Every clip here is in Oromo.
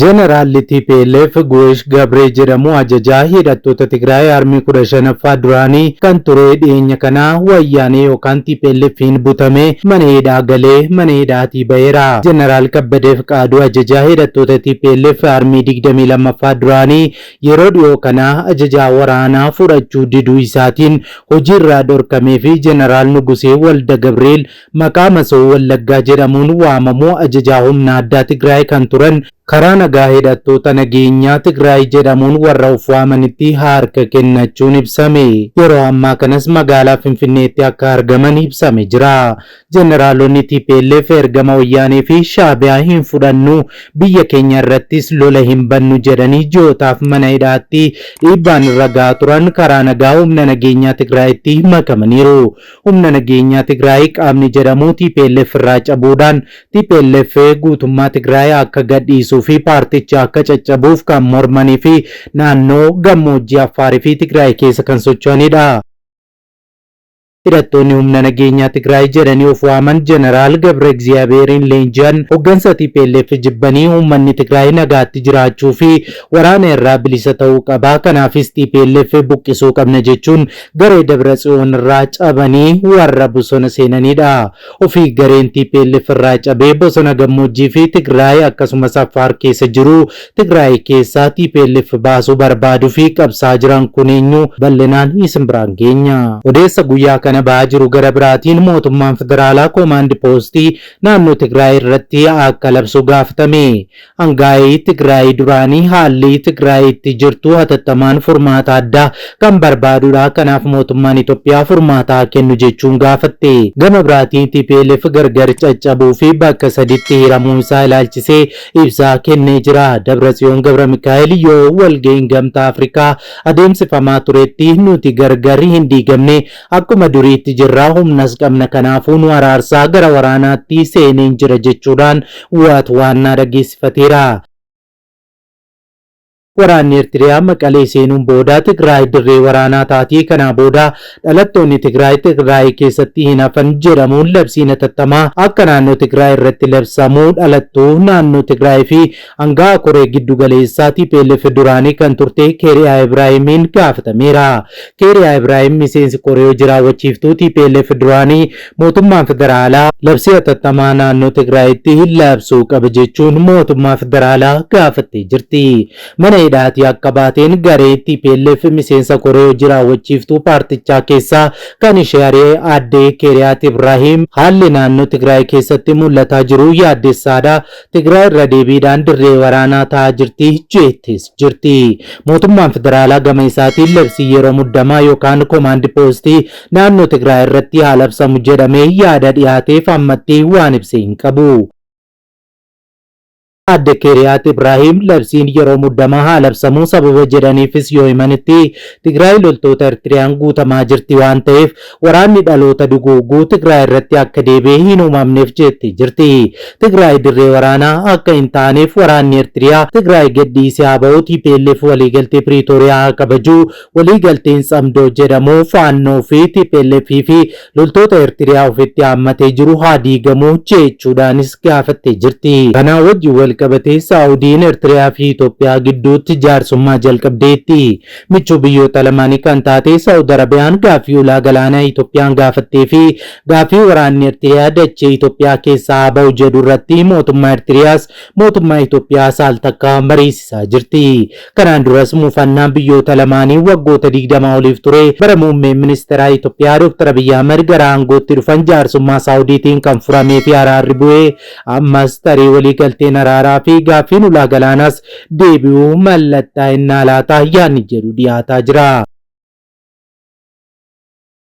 Jeneraalli tplf Guwesh Gabree jedhamu ajajaa hidhattoota Tigraay Armii 15ffaa duraanii kan ture dhiyeenya kana Wayyaanee yookaan TPLFiin butamee mana hidhaa galee mana hidhaatii ba'eera. Jeneraal Kabbadee Fiqaaduu ajajaa hidhattoota tplf Armii 22ffaa duraanii yeroo dhiyoo kana ajajaa waraanaa fudhachuu diduu isaatiin hojiirraa dhorkamee fi Jeneraal Nugusee Walda Gabriel Maqaa Masoo Wallaggaa jedhamuun waamamu ajajaa humna addaa Tigraay kan turan karaa nagaa hidhattoota nageenyaa Tigraay jedhamuun warra of waamanitti harka kennachuun ibsame. Yeroo ammaa kanas magaalaa Finfinneetti akka argaman ibsame jira. Jeneraalonni tplf ergama Wayyaanee fi Shaabiyaa hin fudhannu, biyya keenya irrattis lola hin bannu jedhanii ji'ootaaf mana hidhaatti dhiibbaan irra gahaa turan karaa nagaa humna nageenyaa Tigraayitti makamaniiru. Humna nageenyaa Tigraay qaamni jedhamu tplf irraa cabuudhaan tplf guutummaa Tigraay akka gadhiisuu fi paartichi akka caccabuuf kan mormanii fi naannoo gammoojjii Affaar fi Tigraay keessa kan socho'anidha. Hidhattoonni humna nageenyaa Tigraay jedhanii of waaman Jeneraal Gabrexiyaabeeriin leenji'an hoggansa tplf jibbanii uummanni Tigraay nagaatti jiraachuu fi waraana irraa bilisa ta'uu qaba, kanaafis tplf buqqisuu qabna jechuun Garee Dabratsiyoon irraa cabanii warra bosona seenaniidha. Ofii gareen tplf irraa cabee bosona gammoojjii fi Tigraay akkasumas Affaar keessa jiru Tigraay keessaa tplf baasuu barbaaduu fi qabsaa jiran kun eenyu bal'inaan isin biraan geenya. Odeessa guyyaa kana bahaa jiru gara biraatiin mootummaan federaalaa koomaandi poostii naannoo Tigraay irratti akka labsu gaafatame. Angaa'ii Tigraay duraanii haalli Tigraay itti jirtu hatattamaan furmaata addaa kan barbaadudha, kanaaf mootummaan Itoophiyaa furmaata haa kennu jechuun gaafatte. Gama biraatiin tplf gargar caccabuu fi bakka saditti hiramuu isaa ilaalchisee ibsa kennee jira. Dabratsiyoon Gabramikaa'el yoo walga'iin Gamtaa Afrikaa adeemsifamaa turetti nuti gargar hin diigamne, Akkuma duriitti jirra, humnas qabna kanaafuu nu araarsaa gara waraanaatti seeneen jira jechuudhaan waat waannaa dhageessifateera. Waraanni Ertiriyaa Maqalee seenuun booda Tigraay dirree waraanaa taati, kanaa booda dhalattoonni Tigraay Tigraay keessatti hin hafan jedhamuun labsiin hatattamaa akka naannoo Tigraay irratti labsamu dhalattuu naannoo Tigraay fi Anga'aa koree giddu galeessaa tplf duraanii kan turte Keeriyaa Ibraahimiin gaafatameera. Keeriyaa Ibraahim miseensi koree hojii raawwachiiftuu tplf duraanii mootummaan federaalaa labsii hatattamaa naannoo Tigraayitti labsuu qaba jechuun mootummaa federaalaa gaafattee jirti. Mana hidhaatii akka baateen garee tplf miseensa koree hojii raawwachiiftuu paartichaa keessaa kan ishee ari'e aadde Keeriyaat Ibraahim haalli naannoo Tigraay keessatti mul'ataa jiru yaaddessaadha, Tigraay irra deebiidhaan dirree waraanaa ta'aa jirti jeettis jirti. Mootummaan federaalaa gama isaatiin labsii yeroo muddamaa yookaan komaandi poostii naannoo Tigraay irratti haa labsamu jedhamee yaada dhiyaateef ammatti waan ibse hin qabu. Adde Keeriyaat Ibraahiim labsiin yeroo muddamaa haa labsamu sababa jedhaniifis yoo himanitti Tigraay loltoota Ertiriyaan guutamaa jirti waan ta'eef Waraanni dhaloota duguugu Tigraay irratti akka deebi'ee hin uumamneef jeettee jirti. Tigraay dirree waraanaa akka hin taaneef waraanni Ertiriyaa Tigraay gad dhiisee haa bahu, tplf waliigaltee Piriitooriyaa haa kabaju, waliigalteen Tsamdoo jedhamu Faannoo fi tplf fi loltoota Ertiriyaa ofitti haammatee jiru haa diigamu jeechuudhaanis gaafattee jirti. Kanaa wajjin wal qabatee Saa'udiin Ertiriyaa fi Itoophiyaa gidduutti jaarsummaa jalqabdeetti. Michuu biyyoota lamaanii kan taate Sa'ud Arabiyaan gaaffii ulaa galaanaa Itoophiyaan gaafattee fi gaaffii waraanni Ertiriyaa dachee Itoophiyaa keessaa haa ba'u jedhu irratti mootummaa Ertiriyaas mootummaa Itoophiyaa saal takka mariisisaa jirti. Kanaan duras mufannaan biyyoota lamaanii waggoota 20 oliif ture bara muummeen ministeeraa Itoophiyaa Dooktar Abiyyi Ahmad gara aangootti dhufan jaarsummaa Saawudiitiin kan furamee fi araarri bu'e Ammas tarii waliigalteen araaraa fi gaaffiin ulaa galaanaas deebi'uu mallattaa'ennaa laata yaadni jedhu dhiyaataa jira.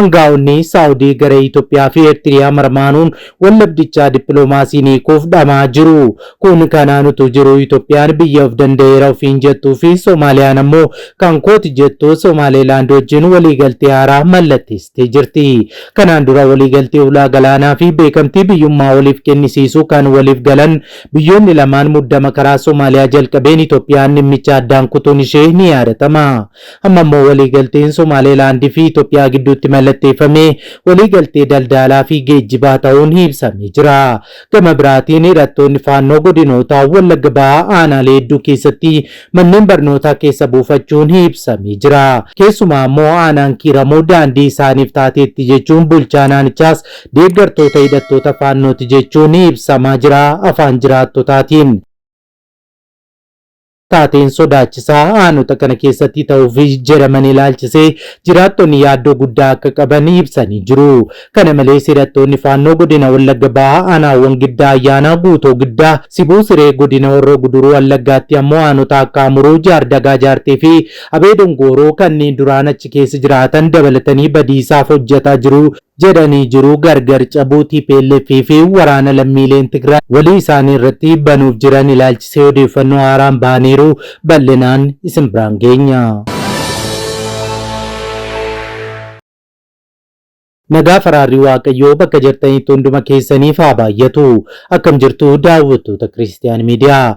Angaa'onni Saawudii gara Itoophiyaa fi Eertiriyaa marmaanuun wallabdichaa dippiloomaasiin hiikuuf dhamaa jiru. Kun kanaan utuu jiru Itoophiyaan biyya of danda'eera ofiin jettuu fi Soomaaliyaan ammoo kan kooti jettu Soomaaleelaand wajjin waliigaltee haaraa mallatteessitee jirti. Kanaan dura waliigaltee ulaa galaanaa fi beekamtii biyyummaa waliif kennisiisuu kan waliif galan biyyoonni lamaan muddama karaa Somaaliyaa jalqabeen Itoophiyaan dhimmicha addaan kutuun ishee ni yaadatama. Amma immoo waliigalteen Somaaleelaand fi Itoophiyaa gidduutti mallatteeffame waliigaltee daldaalaa fi geejjibaa ta'uun ibsamee jira. Gama biraatiin hidhattoonni Faannoo godinoota Wallagga Bahaa aanaalee hedduu keessatti manneen barnootaa keessa buufachuun ibsamee jira. Keessumaa ammoo aanaan Kiiramuu daandii isaaniif taateetti jechuun bulchaan aanichaas deeggartoota hidhattoota Faannooti jechuun ibsamaa jira afaan jiraattotaatiin. Taateen sodaachisaa aanota kana keessatti ta'uuf jedhaman ilaalchisee jiraattonni yaaddoo guddaa akka qaban ibsanii jiru. Kana malees hidhattoonni Faannoo godina Wallagga Bahaa aanaawwan Giddaa Ayyaanaa, Guutoo Giddaa, Sibuu Siree, godina Horroo Guduruu Wallaggaatti ammoo aanota akka Amuruu, Jaardagaa Jaartee fi Abee Dongooroo kanneen duraan achi keessa jiraatan dabalatanii badiisaaf hojjetaa jiru jedhanii jiru. Gargar cabuu tplf fi waraana lammiileen Tigraay walii isaanii irratti banuuf jiran ilaalchisee odeeffannoo haaraan bahaniiru. Bal'inaan isin biraan geenya. Nagaaf araarri Waaqayyoo bakka jirtanitti hunduma keessaniif haa baay'atu. Akkam jirtu daawwattoota Kiristiyaani Miidiyaa.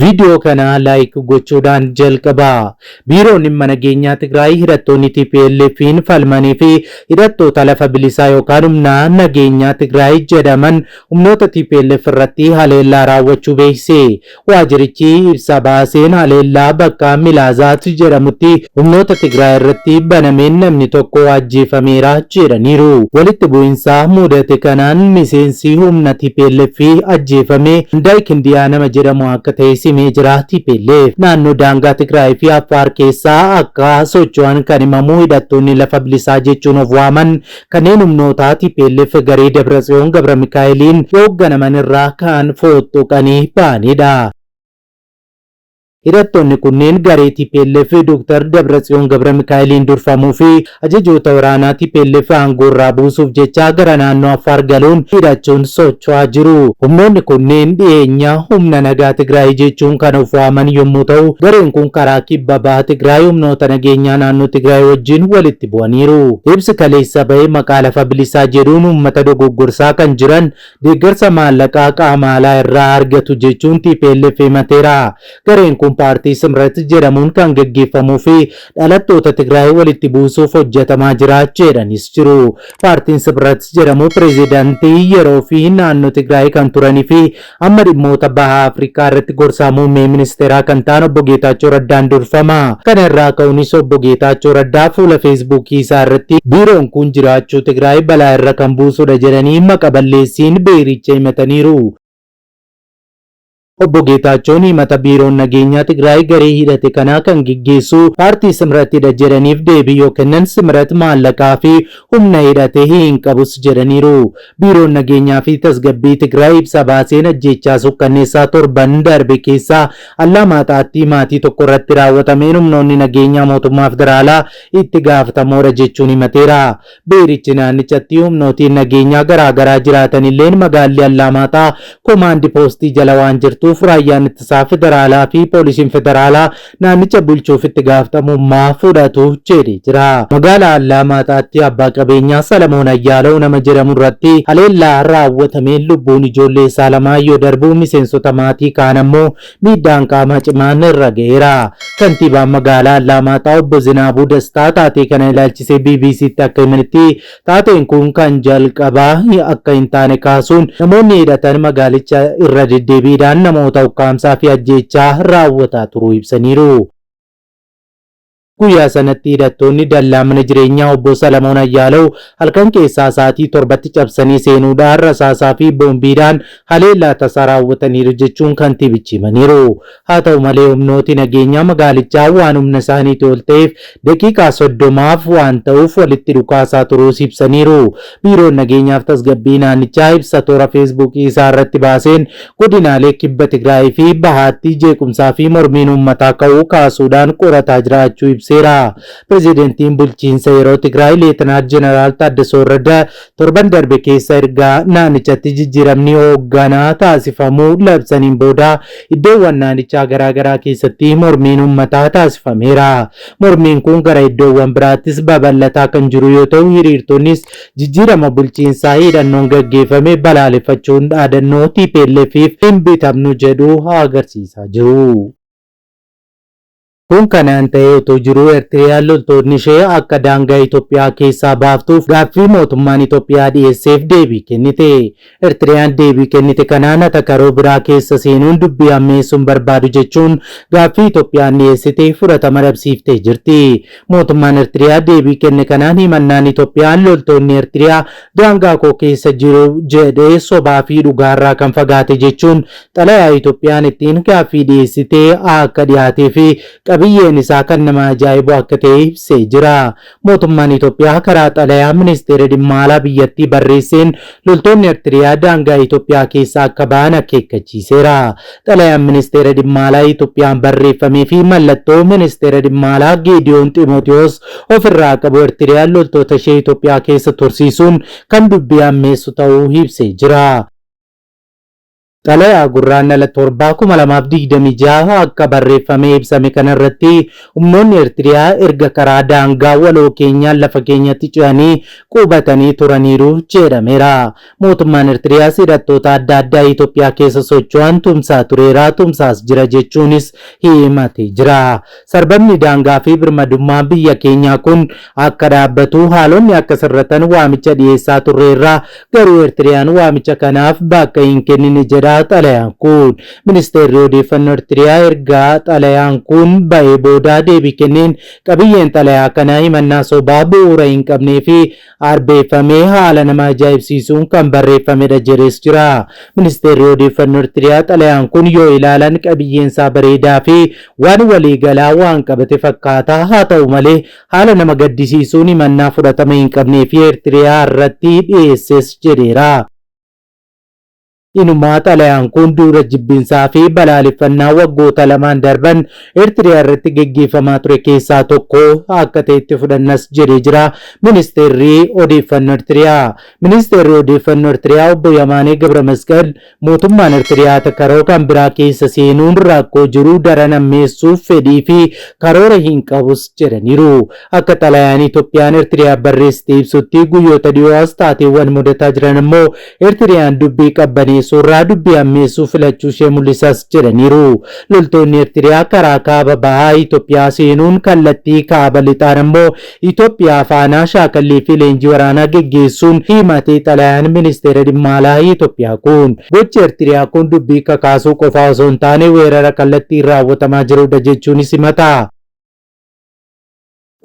Viidiyoo kana like gochuudhaan jalqabaa. Biiroon dhimma nageenyaa Tigraay hidhattoonni TPLF'n falmanii fi hidhattoota lafa bilisaa yookaan humna nageenyaa Tigraay jedhaman humnoota TPLF irratti haleellaa raawwachuu beeksise. Waajirichi ibsa baaseen haleellaa bakka Milaazaat jedhamutti Humnoota Tigraay irratti banameen namni tokko ajjeefameera jedhaniiru. Walitti bu'insa muudate kanaan miseensi humna tplf ajjeefame Andaay Kindiyaa nama jedhamu akka ta'es himee jira. Tplf naannoo daangaa Tigraay fi Affaar keessa akka socho'an kan himamu hidhattoonni lafa bilisaa jechuun of waaman kanneen humnoota tplf garee Dabratsiyoon Gabramikaa'eliin hoogganaman irraa ka'an fooxxoqanii ba'anidha. Hidhattoonni kunneen garee tplf Dr. Dabratsiyoon Gabramikaa'eliin durfamuu fi ajajoota waraanaa tplf aangoorraa buusuuf jecha gara naannoo Affaar galuun hidhachuun socho'aa jiru. Humnoonni kunneen dhiheenya Humna Nagaa Tigraay jechuun kan of waaman yommuu ta'u, gareen kun karaa Kibba Baha Tigraay humnoota nageenyaa naannoo Tigraay wajjin walitti bu'aniiru. Ibsi kaleessa bahe maqaa lafa bilisaa jedhuun uummata dogoggorsaa kan jiran Deeggarsa maallaqaa qaama alaa irraa argatu jechuun tplf himateera. Gareen kun paartii Simrat jedhamuun kan gaggeeffamuu fi dhalattoota Tigraay walitti buusuuf hojjetamaa jira jedhanis jiru. Paartiin Sibrat jedhamu pireezidantii yeroo fi naannoo Tigraay kan turanii fi amma dhimmoota Baha Afrikaa irratti gorsaa muummee ministeeraa kan ta'an obbo Geetaachoo Raddaan durfama. Kana irraa ka'unis Obbo Geetaachoo Raddaa fuula Feesbuukii isaa irratti biiroon kun jiraachuu Tigraay balaa irra kan buusudha jedhanii maqa balleessiin biiricha himataniiru. Obbo Geetaachoon himata biiroon nageenyaa Tigraay garee hidhate kanaa kan geggeessu paartii Simratidha jedhaniif deebii yoo kennan Simrat maallaqaa fi humna hidhate hin qabus jedhaniiru. Biiroon nageenyaa fi tasgabbii Tigraay ibsa baaseen ajjeechaa sukkanneessaa torban darbe keessa Allaamaaxaatti maatii tokko irratti raawwatameen humnoonni nageenyaa mootummaa federaalaa itti gaafatamoodha jechuun himateera. Biirichi naannichatti humnootiin nageenyaa garaa garaa jiraatanilleen magaalli Allaamaaxaa komaandi poostii jala waan jirtuuf raayyaan ittisaa federaalaa fi poolisiin federaalaa naannicha bulchuuf itti gaafatamummaa fudhatu jedhe. jira. Magaalaa Allaamaaxaatti abbaa qabeenyaa Salamoon Ayyaalaw nama jedhamu irratti haleellaa raawwatameen lubbuun ijoollee isaa lamaa yoo darbu miseensota maatii kaan ammoo miidhaan qaamaa cimaan irra ga'eera. Kantiibaan magaalaa Allaamaaxaa obbo Zinaabuu Dastaa taatee kana ilaalchisee BBC'tti akka himanitti taateen kun kan jalqabaa akka hin taane kaasuun namoonni hidhatan magaalicha irra deddeebiidhaan namoota ukkaamsaa fi ajjeechaa raawwataa turuu ibsaniiru. Guyyaa sanatti hidhattoonni dallaa mana jireenyaa obbo Salamoon Ayyaalaw halkan keessaa sa'aatii torbatti cabsanii seenuudhaan rasaasaa fi boombiidhaan haleellaa tasaa raawwataniiru jechuun kantiibichi himaniiru. Haa ta'u malee humnooti nageenyaa magaalichaa waan humna isaaniiti ol ta'eef daqiiqaa soddomaaf waan ta'uuf walitti dhukaasaa turuus ibsaniiru. Biiroon Nageenyaaf Tasgabbii Naannichaa ibsa toora Feesbuukii isaa irratti baaseen godinaalee Kibba Tigraayii fi Bahaatti jeequmsaa fi mormiin uummataa ka'uu kaasuudhaan qorataa jiraachuu ibseera. Pirezidantiin bulchiinsa yeroo Tigraay Leetanaal Jeneraal Taaddasoo Warrada torban darbe keessa ergaa naannichatti jijjiiramni hoogganaa taasifamuu labsaniin booda iddoowwan naannichaa garaagaraa keessatti mormiin uummataa taasifameera. Mormiin kun gara iddoowwan biraattis babal'ataa kan jiru yoo ta'u, hiriirtonnis jijjiirama bulchiinsaa hidhannoon gaggeeffame balaaleffachuun dhaadannoo TPLF'f hin bitamnu jedhu agarsiisaa jiru. Kun kanaan ta'ee utuu jiruu Ertiriyaan loltoonni ishee akka daangaa Itoophiyaa keessaa baaftuuf gaaffii mootummaan Itoophiyaa dhiyeesseef deebii kennite. Ertiriyaan deebii kennite kanaan atakaroo biraa keessa seenuun dubbii hammeessuu hin barbaadu jechuun gaaffii Itoophiyaan dhiyeessite fudhatama dhabsiiftee jirti. Mootummaan Ertiriyaa deebii kenne kanaan himannaan Itoophiyaan loltoonni Ertiriyaa daangaa koo keessa jiru jedhe sobaa fi dhugaarraa kan fagaate jechuun xalayaa Itoophiyaan ittiin gaaffii dhiyeessite akka dhiyaatee fi qabiyyeen isaa kan nama ajaa'ibu akka ta'e ibsee jira. Mootummaan Itoophiyaa karaa xalayaa Ministeerri Dhimma Alaa biyyattii barreesseen loltoonni Ertiriyaa daangaa Itoophiyaa keessaa akka bahan akeekkachiiseera. Xalayaan Ministeera Dhimma Alaa Itoophiyaan barreeffamee fi mallattoo Ministeera Dhimma Alaa Geediyoon Ximootiyoos ofirraa qabu Ertiriyaan loltoota ishee Itoophiyaa keessa tursiisuun kan dubbii ammeessu ta'uu ibsee jira. Xalayaa Gurraandhala 7,2026 akka barreeffamee ibsame kana irratti humnoonni Ertiriyaa erga karaa daangaa waloo keenyaan lafa keenyatti ce'anii qubatanii turaniiru jedhameera. Mootummaan Ertiriyaas hidhattoota adda addaa Itoophiyaa keessa socho'an tumsaa tureera, tumsaas jira jechuunis himatee jira. Sarbamni daangaa fi birmadummaa biyya keenyaa kun akka dhaabbatu haalonni akka sirratan waamicha dhiyeessaa turreerra, garuu Ertiriyaan waamicha kanaaf bakka hin kennine jedha xalayaan kun. Ministeerri Odeeffannoo Ertiriyaa erga xalayaan kun ba'ee booda deebii kenneen, qabiyyeen xalayaa kana himannaa sobaa bu'uura hin qabnee fi arbeeffamee haala nama ajaa'ibsiisuun kan barreeffamedha jedhees jira. Ministeerri Odeeffannoo Ertiriyaa xalayaan kun yoo ilaalan qabiyyeensaa bareedaa fi waan waliigalaa waan qabate fakkaata. Haa ta'u malee haala nama gaddisiisuun himannaa fudhatama hin qabnee fi Ertiriyaa irratti dhiyeesses jedheera. Inumaa xalayaan kun duula jibbiinsaa fi balaaleffannaa waggoota lamaan darban Eertiriyaa irratti geggeeffamaa ture keessaa tokko akka ta'etti fudhannas jedhee jira Ministeerri Odeeffannoo Eertiriyaa. Ministeerri Odeeffannoo Eertiriyaa obbo Yamaanee Gabramasqal mootummaan Eertiriyaa takaroo kan biraa keessa seenuun rakkoo jiru daran hammeessuuf fedhii fi karoora hin qabus jedhaniiru. Akka xalayaan Itoophiyaan Eertiriyaa barreessite ibsutti guyyoota dhiyoo as taateewwan mudataa jiran ammoo Ertiriyaan dubbii qabbaneessuurraa dubbii hammeessuu filachuushee mul'isas jedhaniiru. Loltoonni Ertiriyaa karaa kaaba bahaa Itoophiyaa seenuun kallattii kaaba lixaan ammoo Itoophiyaa faana shaakallii fi leenjii waraanaa geggeessuun himate xalayaan Ministeera Dhimma Alaa Itoophiyaa kun. Gochi Ertiriyaa kun dubbii kakaasuu qofaa osoo hin taane weerara kallattiin raawwatamaa jirudha jechuunis himata.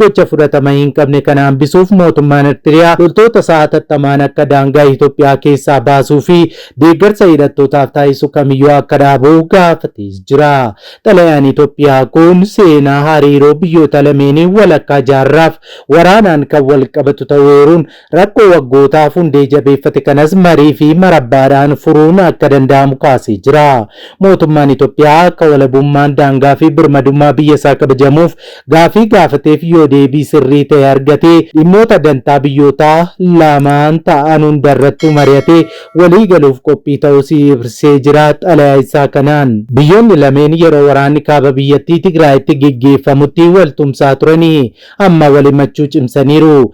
Gocha fudhatama hin qabne kana hambisuuf mootummaan Ertiriyaa loltoota isaa hatattamaan akka daangaa Itoophiyaa keessaa baasuu fi deeggarsa hidhattootaaf taasisu kamiyyuu akka dhaabu gaafatees jira. Xalayaan Itoophiyaa kun seenaa hariiroo biyyoota lameenii walakkaa jaarraaf waraanaan kan wal qabatu ta'uu eeruun Rakkoo waggootaaf hundee jabeeffate kanas marii fi marabbaadhaan furuun akka danda'amu kaasee jira. Mootummaan Itoophiyaa akka walabummaan daangaa fi birmadummaa biyya isaa kabajamuuf gaaffii gaafateef yoo deebii sirrii ta'e argate dhimmoota dantaa biyyootaa lamaan ta'an hundarrattuu mari'atee walii galuuf qophii ta'uus ibrsee jira xalayaa isaa kanaan. Biyyoonni lameen yeroo waraanni kaaba biyyattii Tigraayitti geggeeffamutti wal tumsaa turanii amma wal himachuu cimsaniiru.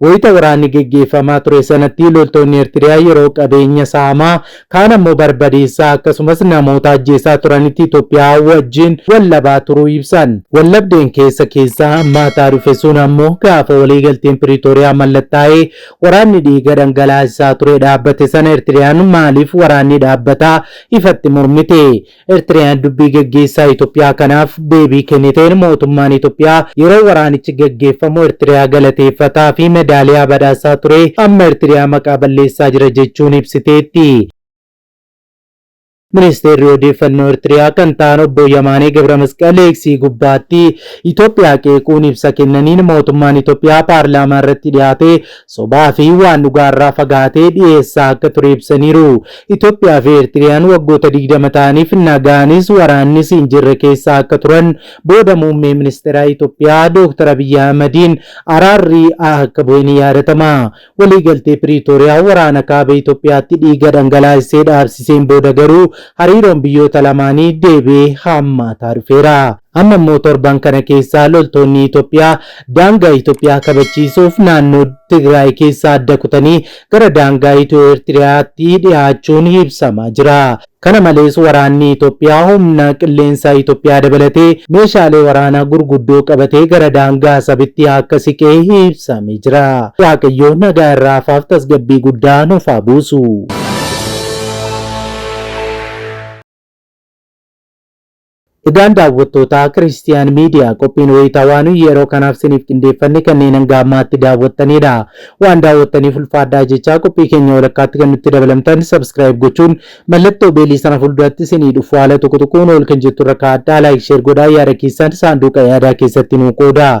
Wayita waraanni geggeeffamaa ture sanatti loltoonni Ertiriyaa yeroo qabeenya saamaa, kaan ammoo barbadeessaa akkasumas namoota ajjeesaa turanitti Itoophiyaa wajjin wal dhabaa turuu ibsan. Wal dhabdeen keessa keessaa hammaataa dhufe sun ammoo gaafa waliigalteen Piriitooriyaa mallattaa'ee waraanni dhiiga dhangalaasaa ture dhaabbate sana Ertiriyaan maaliif waraanni dhaabbataa ifatti mormite? Ertiriyaan dubbii gaggeessaa Itoophiyaa kanaaf deebii kenniteen mootummaan Itoophiyaa yeroo waraanichi gaggeeffamu Ertiriyaa galateeffataa fi medaaliyaa badhaasaa ture amma Ertiriyaa maqaa balleessaa jira jechuun ibsiteetti. Ministeerri Odeeffannoo Ertiriyaa kan ta'an obbo Yamaanee Gabramasqal Eeksii gubbaatti Itoophiyaa qeequun ibsa kennaniin mootummaan Itoophiyaa paarlaamaa irratti dhiyaatee Sobaa fi waan dhugaa irraa fagaatee dhiyeessaa akka ture ibsaniiru. Itoophiyaa fi Eertiriyaan waggoota 20 ta'aniif nagaanis waraannis hin jirre keessa akka turan booda muummee ministeeraa Itoophiyaa Dooktar Abiyyi Ahmadiin araarri akka bu'e ni yaadatama. Waliigaltee Piriitooriyaa waraana kaaba Itoophiyaatti dhiiga dhangalaasisee dhaabsiseen booda garuu hariiroon biyyoota lamaanii deebi'ee hammaataa dhufeera. Amma immoo torban kana keessa loltoonni Itoophiyaa daangaa Itoophiyaa kabachiisuuf naannoo Tigraay keessaa adda kutanii gara daangaa Itiyoo-Eertiriyaatti dhihaachuun ibsamaa jira. Kana malees waraanni Itoophiyaa humna qilleensaa Itoophiyaa dabalatee meeshaalee waraanaa gurguddoo qabatee gara daangaa Asabitti akka siqe ibsamee jira. Waaqayyo nagaa irra hafaaf tasgabbii guddaa nuuf haa buusu. Egaan daawwattootaa Kiristiyaan Miidiyaa qophiin wayitawaa nuyi yeroo kanaaf siniif qindeeffanne kanneen hanga ammaatti daawwattaniidha. Waan daawwattaniif ulfaadhaa jechaa qophii keenya walakkaatti kan nutti dabalamtan subscribe gochuun mallattoo beelii sana fuulduratti sinii dhufu haala tuqu tuquun ol kan jettu irra kaa'adhaa like share godhaa yaada keessan saanduuqa yaadaa keessatti nuu qoodaa.